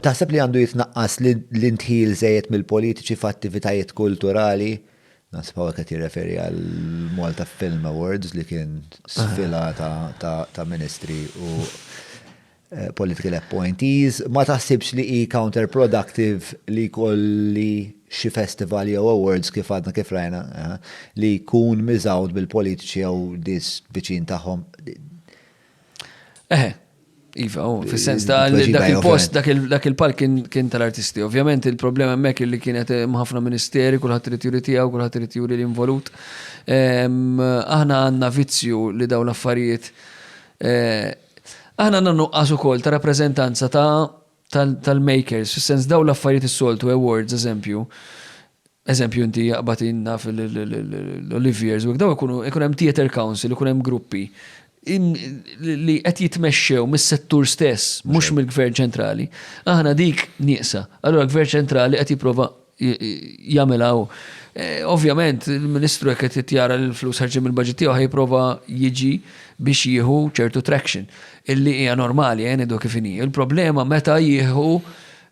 Taħseb li għandu jitnaqqas l-indħil żejjed mill-politiċi f'attivitajiet kulturali? Naħseb hawnhekk qed jirreferi għal Malta Film Awards li kien sfila ta' ministri u eh, political appointees. Ma taħsibx li hi counterproductive li kolli xi festival jew awards kif għadna kif rajna eh, li jkun miżawd bil-politiċi jew dis viċin tagħhom. Eh, Iva, u fil-sens ta' li dak il-post, dak il-palk kien tal-artisti. Ovvjament il-problema hemmhekk li kienet ħafna ministeri, kulħadd irid juri tiegħu, kulħadd irid juri l-involut. Ehm, aħna għandna vizzju li daw l-affarijiet. Eh, aħna għandna nuqqas ukoll ta' rappreżentanza ta' tal-makers, fis-sens daw l-affarijiet is-soltu, awards, eżempju, eżempju inti jaqbad inna fil-Oliviers, u daw ikunu hemm theater council, ikun hemm gruppi li qed jitmexxew mis-settur stess, mhux mill-gvern ċentrali, aħna dik nieqsa. Allura l-gvern ċentrali qed jipprova jagħmilha hu. Ovvjament, il-Ministru jekk qed jara li l-flus ħarġin mill-budget tiegħu ħajprova jiġi biex jieħu ċertu traction. Illi hija normali, eh, nidu kif inhi. Il-problema meta jieħu.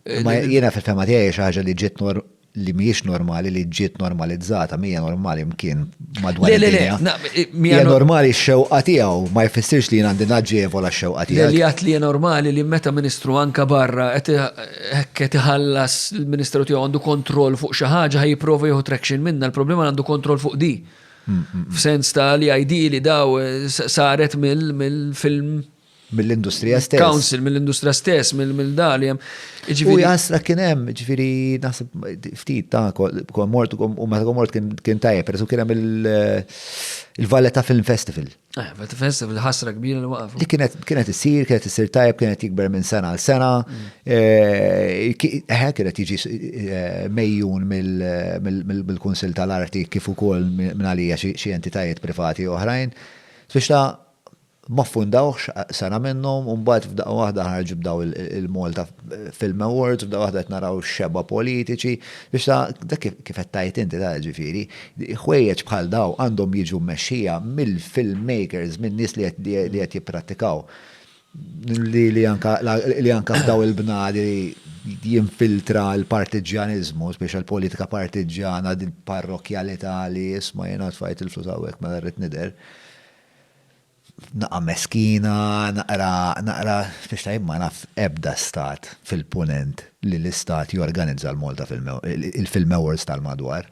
Eh, Ma jiena fil-fema tiegħi xi ħaġa li ġiet li mhijiex normali li ġiet normalizzata, mija normali mkien madwar. Le, le, le, mija normali x-xewqa tiegħu, ma jfissirx li jien għandi naġġevola x-xewqa tiegħu. Li għat li normali li meta ministru anka barra hekk qed iħallas il-Ministeru tiegħu għandu kontroll fuq xi ħaġa ħaj jipprova jieħu traction minna, l-problema għandu kontroll fuq di. F'sens ta' li ID li daw eh, saret mill-film mill-industrija stess. Council, mill-industrija stess, mill-dali. U jasra kien hemm, ġifiri, nasib ftit ta' komort, u meta komort kien tajja, peress kien hemm il-Valletta Film Festival. Eh, bet fessib l-ħasra kbira li waqfu. Li kienet kienet issir, kienet issir tajb, kienet jikber minn sena għal sena. Mm. Eh, eh, kienet jiġi mejjun mill-Kunsil tal-Arti kif ukoll minn għalija xi entitajiet privati oħrajn. Biex ta' ma fundawx sena minnhom u mbagħad f'daqqa waħda ħarġu b'daw il-Malta Film Awards, f'daqqa waħda qed naraw xeba politiċi, biex ta' dak kif qed tajt inti ta' ġifieri, Ħwejjeġ bħal dawn għandhom jiġu mmexxija mill-filmmakers, minn nies li qed jipprattikaw. Li anke f'dawn il-bnadi jinfiltra l-partiġġjaniżmu, speċjal politika partiġġjana, din parrokkjalità li isma' jiena tfajt il-flus hawnhekk mela rrid nidher. Naqra meskina, naqra, naqra, spiċċa jien ma naf ebda stat fil-Punent li l-istat jorganizza l-Malta Film Awards, il-Film Awards tal-madwar.